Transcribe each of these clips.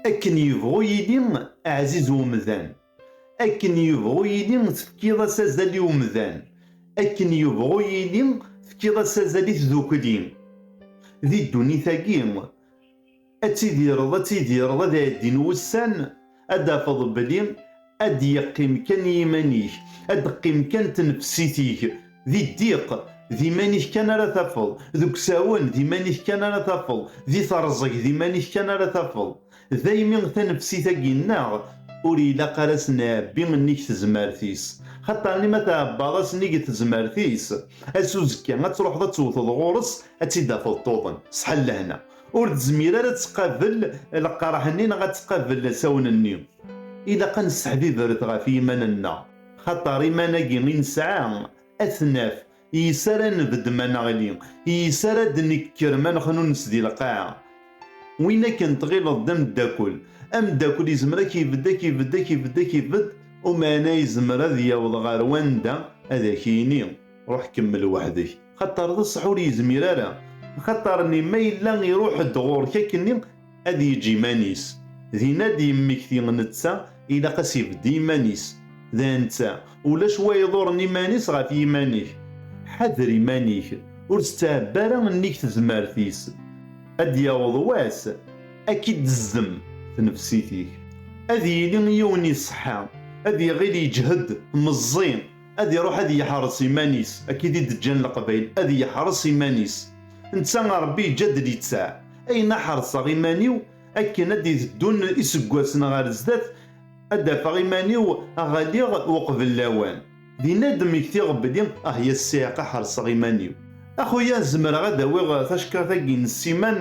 Akken yebɣu yili ɛziz umdan, akken yebɣu yili tefkiḍ-as azal i umdan, akken yebɣu yili tefkiḍ-as azal i tdukli, di ddunit-agi, ad tidireḍ ad tidireḍ ad ɛeddin wussan ad d-tafeḍ belli Ad d-yeqqim kan i yiman-ik, ad d-teqqim kan tnefsit-ik. Di ddiq, d iman-ik kan ara tafeḍ, deg usawen, d iman-ik kan ara tafeḍ, di terẓeg, d iman-ik kan ara tafeḍ. Daymi tanefsit-agi nneɣ ur ilaq ara a s-nɛebbi nnig tezmert-is. Xaṭerni ma tɛebbaḍ-as nnig tezmert-is, ass uzekka ad truḥeḍ ad tewteḍ ɣur-s ad tt-id-tafeḍ tuḍen. Ṣṣeḥa n lehna. ur tezmir ara ad tqabel leqraḥ-nni neɣ ad tqabel asawen-nni. Ilaq ad nesseḥbibret ɣef yiman-nneɣ, xaṭer iman-agi i nesɛa ad t-naf, yes-s ara nebedd ma neɣli, yes-s ara d-nekker ma nexnunes di lqaɛa. Win akken tɣileḍ d ameddakel, ameddakel izmer ad k-ibedd, ad k-ibedd, ad k-ibedd, ad k-ibedd, umeɛna izmer ad yaweḍ ɣer wanda ad ak-yini. Ruḥ kemmel weḥd-k, xaṭer d ṣṣeḥ ur yezmir ara, axaṭer-nni ma yella iruḥ-d ɣur-k akkenni ad yeǧǧ iman-is, din ad d-yemmekti netta ilaq ad s-ibedd iman-is, d netta, ulac wa iḍuren iman-is ɣef yiman-ik, ḥader iman-ik, ur tettɛebbi ara nnig tezmert-is, ad d-yaweḍ wass ad k-id-tezdem tnefsit-ik, ad yili yiwen iṣeḥḥa, ad iɣil yeǧhed, meẓẓi, Ad iruḥ ad yeḥres iman-is, akkid i d-ǧǧan Leqbayel, ad yeḥres iman-is. Netta Ṛebbi yeǧǧa-d littaɛ, ayen a ḥerseɣ iman-iw, akken a d-iteddun iseggasen ɣer zdat, a d-afeɣ iman-iw a ɣaliɣ uqbel lawan. Din a d-mmektiɣ belli ah ya ssiɛqa ḥerseɣ iman-iw. A xuya zemreɣ a d-awiɣ tacekkaṛt-agi n ssiman?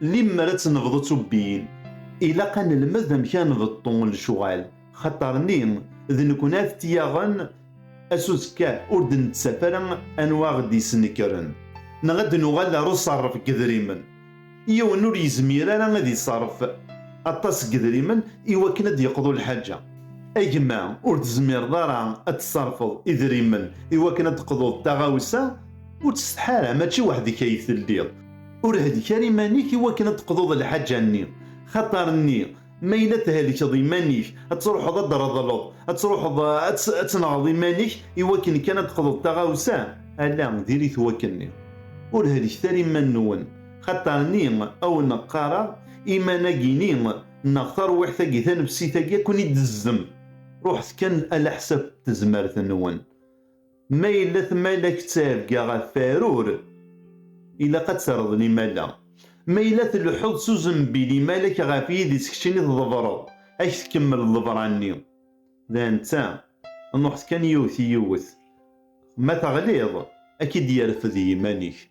Limmer ad tt-nebḍu d tubbiyin, ilaq ad nelmed amek ara nbeṭṭu lecɣal, xaṭer-nni d nekkni ara t-yaɣen, ass uzekka ur d-nettaf ara anwa ara ɣ-d-yesnekren, neɣ ad nuɣal ar uṣerref n yedrimen. Yiwen ur yezmir ara ad iṣerref aṭas n yedrimen i wakken ad d-yeqḍu lḥaǧa. A gma, ur tezmireḍ ara ad tṣerrfeḍ idrimen i wakken ad d-teqḍuḍ taɣawsa? Ur ttsetḥa ara, mačči weḥd-k ay telliḍ. Ur hlek ara iman-ik i wakken ad d-teqḍuḍ lḥaǧa-nni. Xaṭer nni, ma yella thelkeḍ iman-ik, ad truḥeḍ ad d-reḍleḍ, ad truḥeḍ ad tenɣeḍ iman-ik i wakken kan ad d-teqḍuḍ taɣawsa, ala, diri-t wakken-nni. Ur helket ara iman-nwen. Xaṭer nni, a wen-qqareɣ, iman-agi-ni, neɣ tarwiḥt-agi, tanefsit-agi, a ken-id-tezzem. Ruḥet kan alaḥsab n tezmert-nwen. Ma yella tmalakt d tarebga ɣef warur, ilaq ad terreḍ limala. Ma yella tleḥḥuḍ s uzembi limalak ɣef yidis keččini tḍebreḍ, ad k-tkemmel ḍḍebra-nni. D netta, nuḥet kan yiwet yiwet, ma teɣliḍ, ad k-id-yerfed yiman-ik.